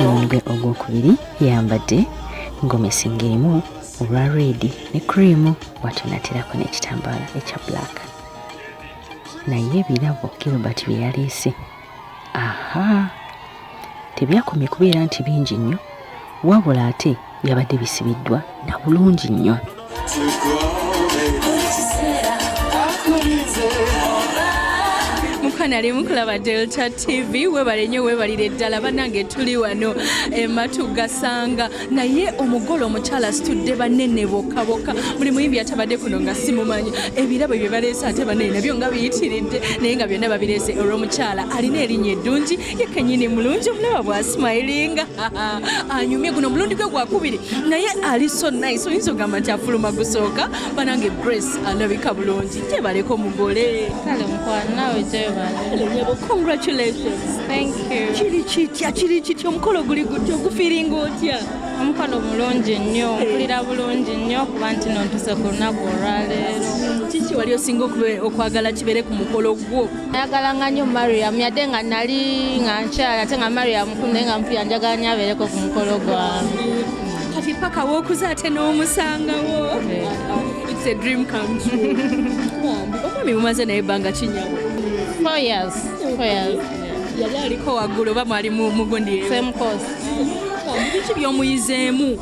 omutwe ogwokubiri yambadde gomesi ng'erimu olwa reedi ne creamu bwatyo naterako n'ekitambaala ekya black naye ebirabo gilbert bye yaleese aha tebyakomye kubeera nti bingi nnyo wabula ate byabadde bisibiddwa na bulungi nnyo mukana limu kulaba delta tv webale nnyo webalire ddala banange tuli wano ematu gasanga naye omugole omukyala asitudde banene bokka bokka buli muyimbi yatabadde kuno nga simumanyi ebirabo bye baleese ate banene nabyo nga biyitiridde naye nga byonna babireese olw'omukyala alina erinnya eddungi ye kenyini mulungi omulaba bwasimayiringa anyumye guno omulundi gwe gwakubiri naye ali so nice oyinza ogamba nti afuluma gusooka banange grace alabika bulungi gyebaleka omugole kale mukwano nawe gyebalenya bo congratulations thank you kiri kitya kiri kitya omukolo guli gutya ogufiringa otya omukolo mulungi nnyo mpulira bulungi nnyo kuba nti nontuse ku lunaku olwaleero kiki wali osinga okwagala kibeere ku mukolo gwo ayagala nga nnyo mariam yadde nga nali nga nkyala ate nga mariam kulu naye nga mpulira njagala nyo abeereko ku mukolo gwange kati paka wokuza ate n'omusangawo it's a dream come true omwami mumaze naye ebbanga kinyabo four years four years yali aliko waggulu oba mwali mugundi same course biki byomuyizeemu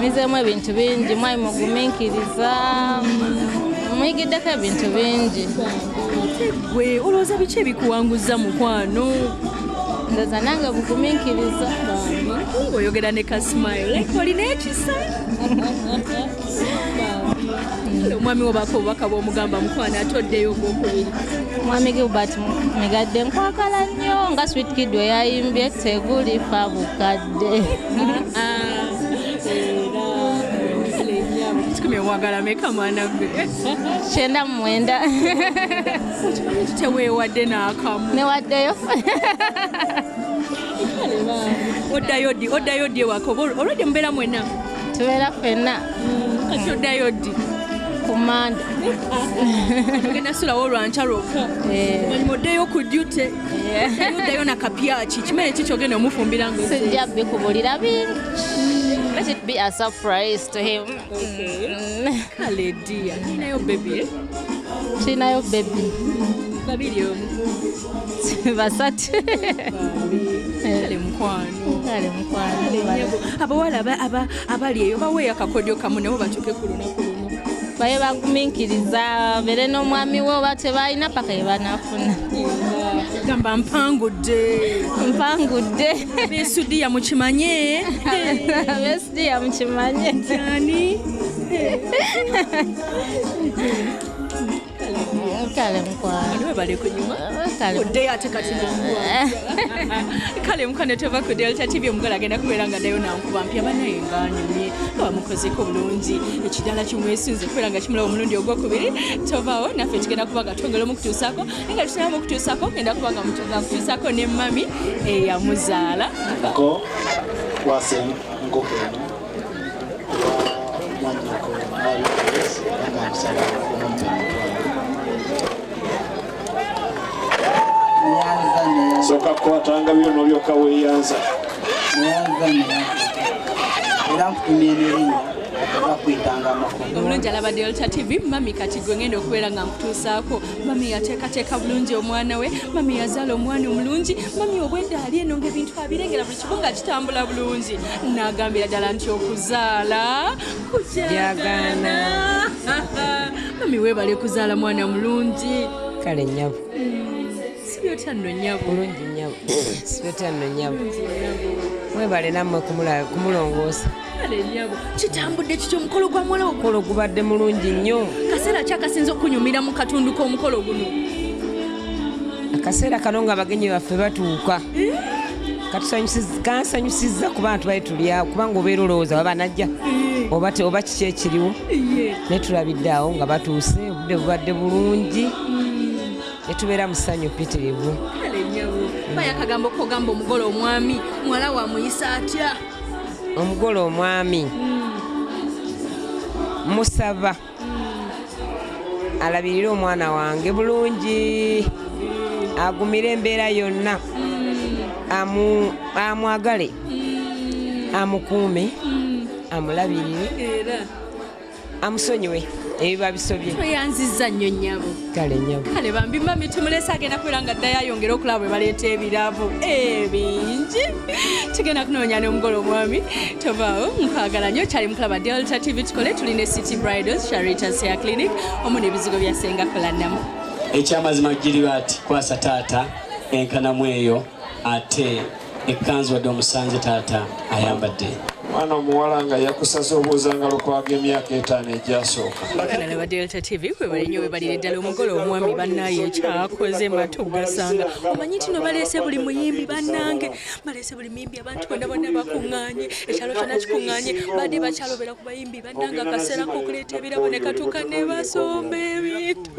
mizeemu ebintu bingi mwali mugumiikiriza muyigiddeko ebintu bingi gwe olowooza biki ebikuwanguza mukwano ndoza nange bugumiikiriza oyogera ne kasmile olina ekisa omwami wobako obubaka bwomugamba mukwano ate oddeyo ogwokubiri mwami gilbert migadde nkwagala nnyo nga swit kid weyayimbye tegulifa bukadde ah, ah. wagala meka mwana gwe kyenda mumwenda tewewadde nakamu newaddeyo oddayo ddi oddayo ddi ewaka olwedde mubeera mwena tubeera fenna kati oddayo ddi ku mande ogenda sulawo olwanca lwokka eh. oddeyo ku dute eh. oddayo na kapyaki kimere ki kyogenda omufumbira nga sijja bikubulira bingi mm. let it be a surprise to him mm. kale dia kinayo bebi eh? kinayo bebi babiri omu basatu abawala abali eyo baweeyo akakodyo kamu nabo batuuke ku lunaku lumu baye bagumiikiriza bere n'omwami we oba tebalina paka ye banafuna gamba mpangudde mpangudde besudiya mukimanye besudiya mukimanye ani kale mukwano bale kunyuma oddeyo ate kati kale mukwano tova ku delta tv omugala agenda kubeera nga nayo nankuba mpya banaye nganyumye nga bamukozeko bulungi ekidala kimwesinze okubeera nga kimulaba omulundi ogwokubiri tovawo naffe tugenda kuba nga twongera omukutuusako naye nga tusinaba mukutuusako ngenda kuba nga mukutuusako ne mami eyamuzaala Go, wasem, go, soka kukwatanga byo nolyoka weyanza era nkutumya emirimu bakwitanga amakulu obulungi alaba delta tv mami kati gwe ngenda okubeera nga nkutuusaako mami yateekateeka bulungi omwana we mami yazaala omwana omulungi mami obwedda ali eno ngaebintu abirengera nga kitambula bulungi nagambira ddala nti okuzaala kukyagana mami webale kuzaala mwana mulungi kale nyabo sibyotya nno nyabo bulungi nyabo sibyotya nno nyabo mwebale nammwe kumulongoosa kitambudde kityo omukolo gwa muwala omukolo gubadde mulungi nnyo kaseera ki akasinza okunyumira mu katundu k'omukolo guno akaseera kano nga abagenyi baffe batuuka eh? kansanyusiza kuba bantu bali tulyawo kubanga obeera olowooza baba najja eh. oba oba kiki ekiriwo eh. naye tulabidde awo nga batuuse obudde bubadde bulungi hmm. netubeera musanyu pitirivu bayakagambo kogamba omugole omwami muwala wamuyisa atya omugole omwami musaba alabirire omwana wange bulungi agumire embeera yonna amwagale amukuume amulabirire amusonyiwe ebiba bisobye tweyanziza nnyo nyabo kale nyabo kale bambi mami tumulese agenda kubeera nga ddayo ayongera okulaba bwe baleeta ebirabo ebingi tugenda kunoonya nomugolo omwami tobaawo nkwagala nnyo kyali mukulaba delta tv tukole tuli ne city bridals charitas ya clinic omu nebizigo bya senga kulanamu ekyamazima giriba ati kwasa taata enkanamu eyo ate ekkanzu wadde omusanze taata ayambadde mwana omuwala nga yakusaza obuuzangalo kwaga emyaka etaano egyasooka akalala ba delta tv kwebale nyo webalire ddala omugole omwami bannaye ekyakoze matugasanga omanyi tino baleese buli muyimbi bannange baleese buli muyimbi abantu bonna bonna bakuŋŋaanye ekyalo kyona kikuŋŋaanye badde bakyalobera ku bayimbi bannange akaseera kokuleeta ebirabo ne katuuka ne basomba ebintu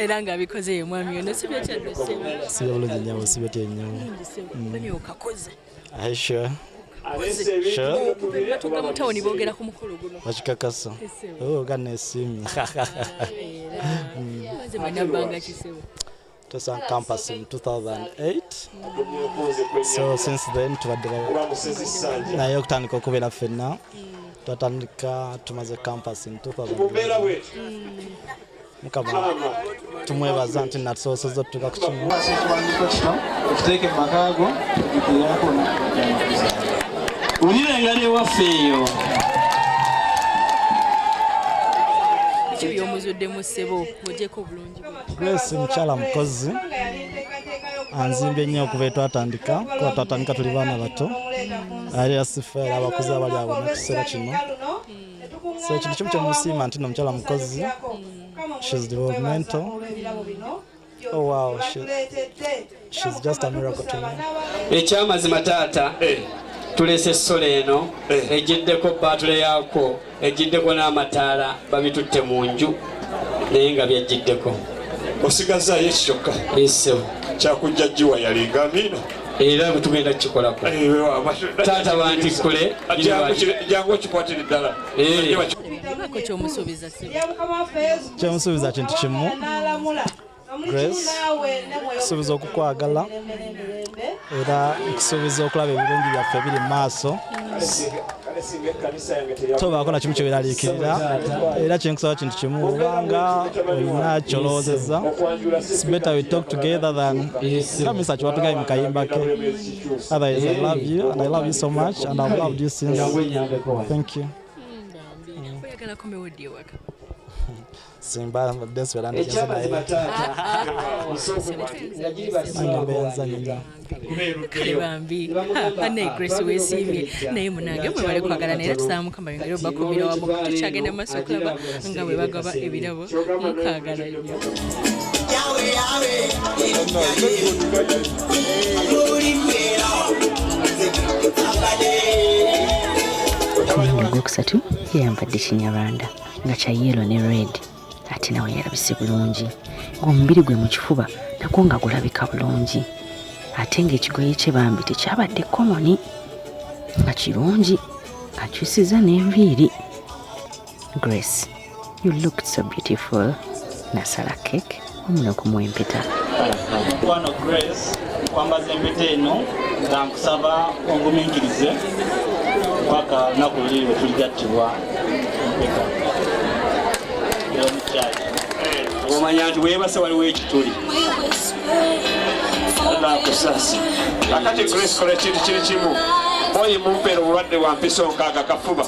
era nga abikoze ye mwami ono si byotya si bulungi nyabo si byotya nyabo mm. okakoze aisha batuuka mu tawuni boogera ku mukolo guno bakikakasa oh, ganesiimye Just on campus in 2008. So since then tubadde naye okutandika okubeera fenna twatandika tumaze campus in 2000 mukama tumwebaza nti natusoboseza otutuka ku kimu okiteeke mumakago eyakona ulira engali ewaffe eyo kibyomuzuddemu ssebo mujeko bulungi Grace mukyala mukozi anzimba ennyo okuva etwatandika kuba twatandika tuli baana bato ali asifa era abakozi abali awo mu kiseera kino so ekintu kimu kyemusiima nti no mukyala mukozi shes developmental oh, wow. She's just a miracle to me. Ekyamazima taata eh. tulese essola eno eh. ejiddeko baatule yaako ejiddeko n'amataala babitutte mu nju naye nga byajjiddeko osigazaayo eki kyokka esebo kyakujja jiwa yalinga amiina era bwetugenda kukikolako eh, taata bantikkule jangu okikwatire ddala kyomusuubiza kintu kimu grace nkusuubiza okukwagala era nkusuubiza okulaba ebirungi byaffe ebiri mu maaso tobaako na kimu kyeweraliikirira era kyenkusaba kintu kimu obanga olina kyolowoozezza better we talk together than kamisa kiwatugayi mu kayimba ke otherwise i love you and i love you so much and i've loved you since thank you simba mbadde nswera njigeze naye banaye grace wesiimye naye munange mwebale kwagala naye tusaba mukama yongere obakumira wamu tukyagenda mu maaso okulaba nga bwe bagaba ebirabo mukwagala nnyo Mwana gwokusatu yeyambadde kinyarwanda nga kya yellow ne red ate nawe yalabise bulungi ng'omubiri gwe mu kifuba nagwo nga gulabika bulungi ate ng'ekigoye kye bambi tekyabadde komoni nga kirungi akyusiza n'enviiri grace you looked so beautiful nasala cake omuna kumwempeta mukwano grace kwambaza empeta eno nga nkusaba onguminkirize paka lunaku luli lwe tuligattibwa empeta eyomukyaki omanya nti webase waliwo ekituli nakusasi akati grace kola ekintu kiri kimu oyi mumpeera obulwadde bwa mpiso nkaaga kafuba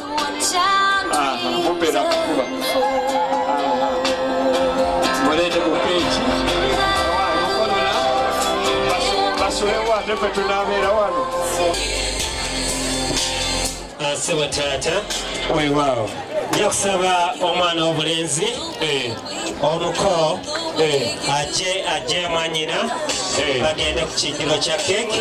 Sebo taata weewaawo nja kusaba omwana w'obulenzi eh. omuko eh. aje aje mwanyina eh. bagende ku kijjulo kya keeki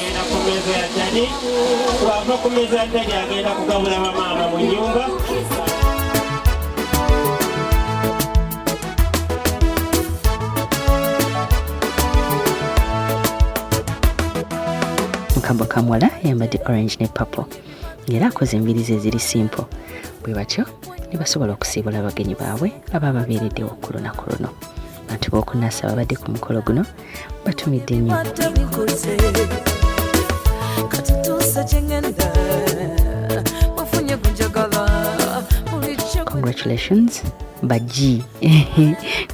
Mukabwa Kamwala yambadde orange ne purple ng'era akoze embirizi eziri simple bwe batyo ne basobola okusiibula abagenyi baabwe abaababeereddewo ku lunaku luno. abantu b'okunasa babadde ku mukolo guno batumidde nnyo congratulations baji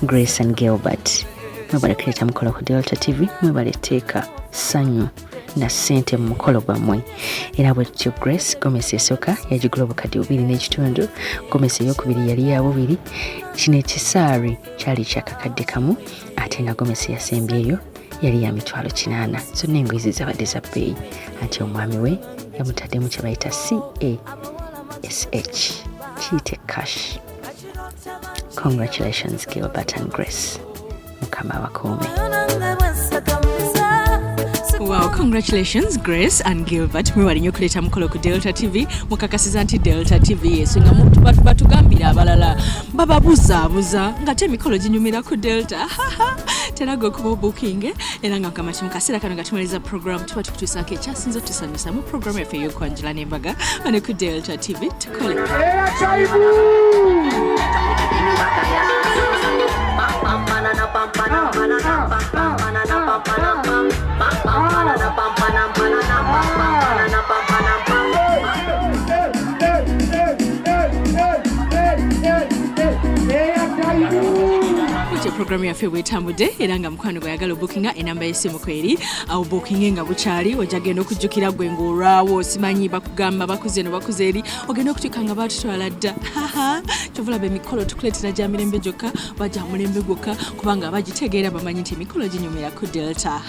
grace and gilbert mwebale kuleta mukolo ku delta tv mwebale teeka sanyu na sente mu mukolo gwammwe era bwe tutyo grace gomesi esooka yagigula obukadde bubiri n'ekitundu gomesi eyokubiri yali ya bubiri kino ekisaari kyali kyakakadde kamu ate nga gomesi yasembyeyo yali ya mitwalo kinaana zonna engoye ze zabadde za bbeeyi anti omwami we yamutaddemu kye bayita cash kiyite cash congratulations gilbert and grace mukama abakuume Wow, congratulations Grace and Gilbert mwebali nyo kuleta mukolo ku Delta TV mukakasiza nti Delta TV yesu nga batugambira abalala bababuzaabuza ngate emikolo ginyumira ku delta teraga okuba obukinge era nga mukama mu kaseera kano nga tumaliriza program tuba tukutuusaako ekyasinza otusanyusa mu programu yaffe ey'okwanjula n'embaga wano ku delta tv tukole ekyo programu yaffe bwetambudde era nga mukwano gweyagala obukinga enamba yesimu kweri awo bukinge nga bukyali oja genda okujjukira gwe ngaolwawo simanyi bakugamba bakuze no bakuze eri ogenda okutuuka nga batutwala dda kyovulaba emikolo tukuleetera gya mirembe gyokka baja mulembe gwokka kubanga bagitegeera bamanyi nti emikolo ginyumira ku delta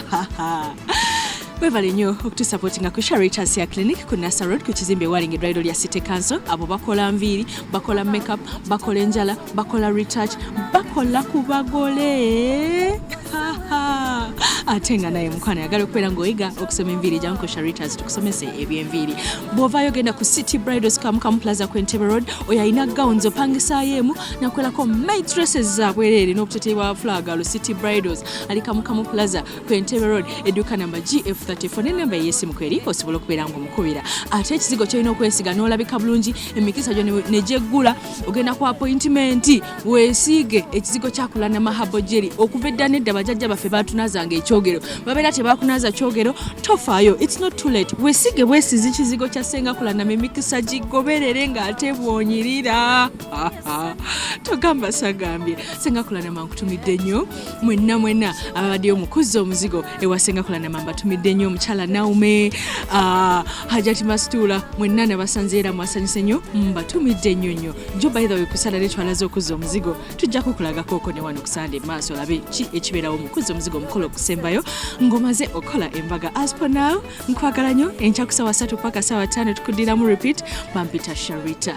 webale nnyo okutusapotinga ku sharitas ya clinic ku nasa road ku kizimbe ewalinga edwaliro lya city council abo bakola nviiri bakola makeup bakola enjala bakola retouch bakola ku bagole ate nga naye mukwano yagala okubeera ngaoyiga okusoma enviiri jangu ku sharitas tukusomese ebyenviiri bw'ovaayo genda ku city bridals kamukamu plaza ku entebe road oyo alina gowns opangisaayo emu nakolako maitresses zabwereere n'obuteteyi bwa flaga lu city bridals ali kamukamu plaza ku entebe road edduuka namba gf34 nenamba eyesimu kweri osobola okubeera nga omukubira ate ekizigo kyolina okwesiga n'olabika bulungi emikisa gyo negyeggula ogenda ku apointimenti wesiige ekizigo kyakula namahabo jeri okuva edda nedda bajajja baffe batunazanga ekyogero babeera tebakunaza kyogero tofaayo its not too late wesiige bwesizi kizigo kya senga kulanama emikisa gigoberere ng'ate bwonyirira togamba sagambye senga kulanama nkutumidde nnyo mwenna mwenna ababaddeyo mukuzza omuzigo ewa senga kulanama mbatumidde nnyo omukyala naume ah, hajati masituula mwenna nabasanze era mwasanyuse nnyo mbatumidde nnyo nnyo jo baithawe kusala netwalaze okuzza omuzigo tujja kukulagakooko newano kusande maaso olabe ki ekibeerawo mukuzza omuzigo omukolo okusembayo ngomaze okukola embaga aspo now nkwagala nnyo enkyakusawa satu paka sawa tano tukudiramu repeat bampita sharita